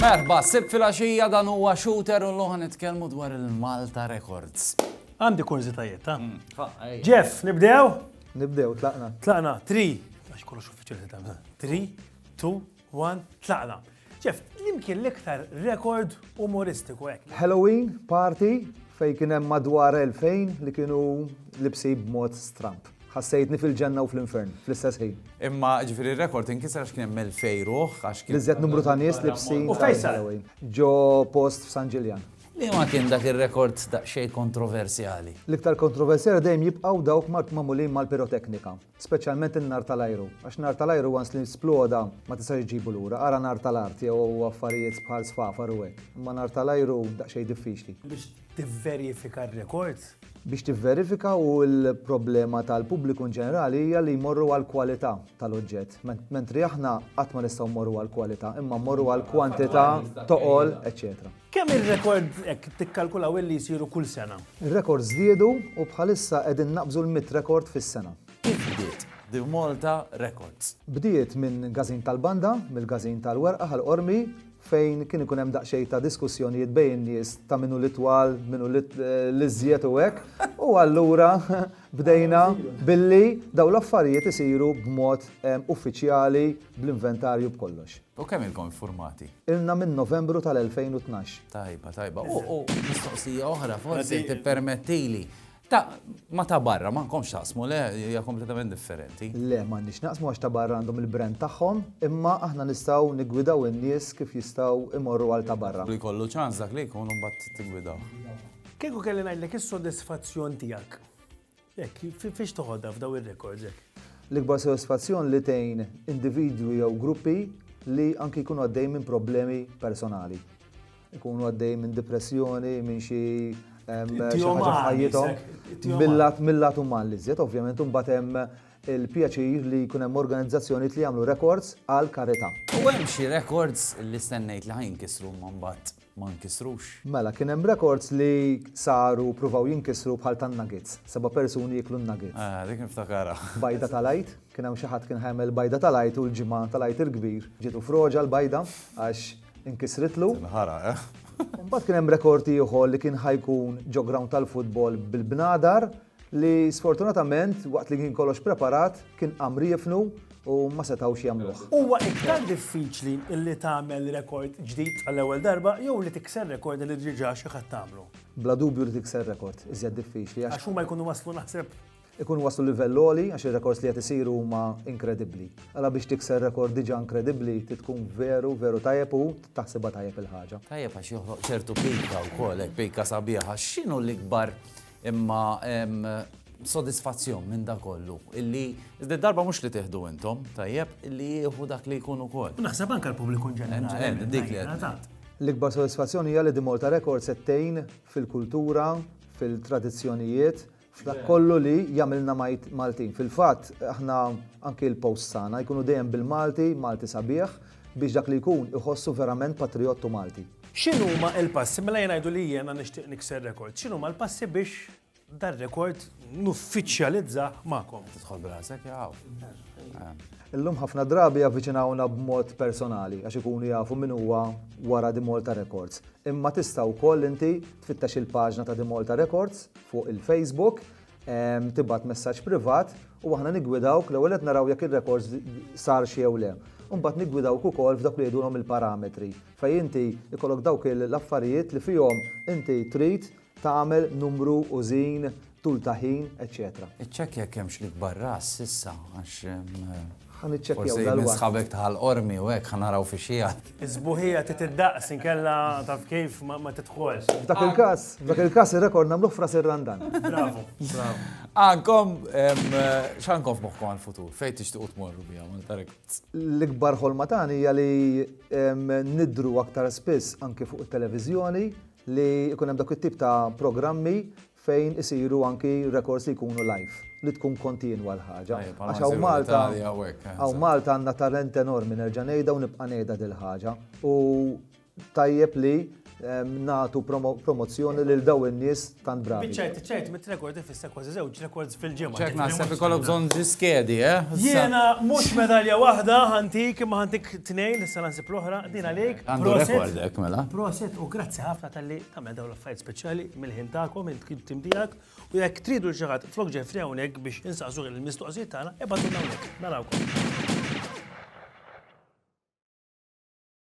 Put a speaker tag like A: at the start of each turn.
A: Merba, sib fil-axija dan huwa shooter u l-loħan nitkellmu dwar il-Malta Records. Għandi kurżitajiet, ta' mm, Jeff, nibdew? Nibdew, tlaqna. Tlaqna, 3, għax kollox uffiċjali ta' 3, 2, One, tlaqna. Jeff, li mkien l-iktar rekord umoristiku hekk? Halloween party fej kien hemm madwar 2000 li kienu libsi b'mod stramp. Ħassejtni fil-ġenna u fl-infern, fl-istess ħin. Imma ġifieri r-rekord inkisser għax kien hemm 2000 ruħ għax kien. L-iżjed numru ta' nies libsin. U fejn sar? Ġo post f'San Ġiljan. Liema kien dak ir-rekord daqsxejn kontroversjali? L-iktar kontroversjali dejjem jibqgħu dawk magħmulin mal-piroteknika. Speċjalment in-nar tal-ajru, għax nar tal-ajru once li sploda ma tistax ġġibu lura, ara nar tal-art jew affarijiet bħal sfafar u hekk, imma nar tal-ajru daqsxejn diffiċli. Biex tivverifika r-rekords? Biex tivverifika u l-problema tal-pubbliku in ġenerali hija li jmorru għall-kwalità tal-oġġett, mentri aħna qatt ma nistgħu mmorru għall-kwalità, imma mmorru għall-kwantità, toqol, eċċetera. Kemm ir-rekord hekk tikkalkulaw illi jsiru kull sena? Ir-rekords żdiedu u bħalissa qegħdin naqbżu l-mitt rekord fis-sena. Kif bdiet The Malta Records? Bdiet minn Gazin tal-Banda, mill-Gazin tal-Werqa ħal-Qormi, fejn kien ikun hemm daqsxejn ta' diskussjonijiet bejn in-nies ta' min hu l-itwal, min hu l-iżjed u hekk, u allura bdejna billi dawn l-affarijiet isiru b'mod uffiċjali, bl-inventarju b'kollox. U kemm ilkom iffurmati? Ilna minn Novembru tal-2012. Tajba, tajba. U mistoqsija oħra forsi tippermettili. Ta' ma ta' barra, ma nkomx taqsmu, le, hija kompletament differenti. Le, ma nix naqsmu għax ta' barra għandhom il-brand tagħhom, imma aħna nistgħu nigwidaw in-nies kif jistgħu imorru għal ta' barra. Li jkollu ċans dak li jkun u mbagħad tigwidaw. Kieku kelli ngħidlek is-sodisfazzjon tiegħek. Hekk, fiex toħodha f'daw ir-rekords hekk? L-ikbar sodisfazzjon li tgħin individwi jew gruppi li anki jkunu għaddej minn problemi personali. Ikunu għaddej minn depressjoni, minn xi ħajjithom. Mill-lat uman li żjed, ovvjament, imbagħad hemm il-pjaċir li jkun hemm organizzazzjonijiet li jagħmlu rekords għal karità. U hemm xi rekords li stennejt li ħajn kisru mbagħad ma nkisrux. Mela, kien hemm rekords li saru pruvaw jinkisru bħal tan-nuggets, seba' persuni jieklu n-nuggets. Ah, dik niftakarha. Bajda tal-Għid, kien hawn xi ħadd kien ħa jagħmel bajda tal-Għid u l-Ġimgħa tal-Għid il-Kbir ġietu froġa l-bajda għax inkisritlu. Tinħaraq, eh? Imbagħad kien hemm rekord ieħor li kien ħa jkun ġo ground tal-futbol bil-bnadar li sfortunatament waqt li kien kollox preparat kien qam riefnu u ma setgħux jagħmluh. Huwa iktar diffiċli li tagħmel rekord ġdid għall-ewwel darba jew li tikser rekord li diġà xi ħadd għamlu? Bla dubju li tikser rekord iżjed diffiċli għax. Għax huma jkunu waslu naħseb. Ikunu waslu livell għoli għax ir-rekords li qed isiru huma inkredibbli. Għala biex tikser rekord diġà inkredibbli trid tkun veru veru tajjeb u taħsibha tajjeb il-ħaġa. Tajjeb għax joħloq ċertu pika wkoll hekk pika sabiħa. X'inhu l-ikbar Imma hemm sodisfazzjon minn da kollu illi iżda darba mhux li tieħdu intom, tajjeb, illi jieħu dak li jkun ukoll. Naħseb anke l-pubbliku ġenerali. Dik li qed. L-ikbar sodisfazzjon hija li The Malta Records qed tgħin fil-kultura, fil-tradizzjonijiet, f'dak kollu li jagħmilna Maltin. Fil-fatt, aħna anke l-posts tagħna jkunu dejjem bil-Malti, Malti sabiħ, biex dak li jkun iħossu verament patrijott u Malti. X'inhuma l-passi, mela jien ngħidu li jiena nixtieq nikser rekord, x'inhuma l-passi biex dar-rekord nuffiċjalizzah magħkom? Tidħol b'rasek jaqgħu. Illum ħafna drabi javviċinawna b'mod personali għax ikunu jafu min huwa wara di Malta Records. Imma tista' wkoll inti tfittex il-paġna ta' di Malta Records fuq il-Facebook tibgħat messaġġ privat u aħna niggwidawk l-ewwel qed naraw jekk ir-rekors sar xi jew le. Imbagħad niggwidawk ukoll f'dak li jgħidulhom il-parametri fejn inti jkollok dawk l-affarijiet li fihom inti trid tagħmel numru, użin, tul ta' ħin, eċċetera. Iċċekkja jekk hemmx l-ikbar ras issa għax Ħa niċċekkjaw dal-waqt. Forsi min sħabek ta' Ħal Qormi u hekk, ħa naraw fiex qiegħed. Is-sbuħija trid iddaqs inkella taf kif ma tidħolx. F'dak il-każ, f'dak il-każ ir-rekord nagħmluh f'Ras ir-Randan. Bravu, bravu. Għandkom, x'għandkom f'moħħkom għall-futur? Fejn tixtiequ tmorru biha Malta Records? L-ikbar ħolma tagħna hija li nidhru aktar spiss anke fuq it-televiżjoni li jkun hemm dak it-tip ta' programmi fejn isiru anki rekords li jkunu live, li tkun kontinwa l-ħaġa. Għax hawn Malta, hawn Malta għandna talent enormi, nerġa' ngħidha u nibqa' ngħidha dil-ħaġa. U tajjeb li nagħtu promozzjoni lil dawn in-nies tant bravi. Biċċajt, ċajt, mit rekord ifisser kważi żewġ rekords fil-ġimgħa. Ċek naħseb ikollok bżonn ġi skedi, eh? Jiena mhux medalja waħda ħantik imma ħantik tnejn, issa naħseb l-oħra, din għalik. Għandu rekord hekk mela. Proset u grazzi ħafna tal-li Tagħmel dawn l-affarijiet speċjali mill-ħin tagħkom, il-tim tiegħek, u jekk tridu xi ħadd flok ġefri hawnhekk biex insaqsu il-mistoqsijiet tagħna, ebgħadu hawnhekk. Narawkom.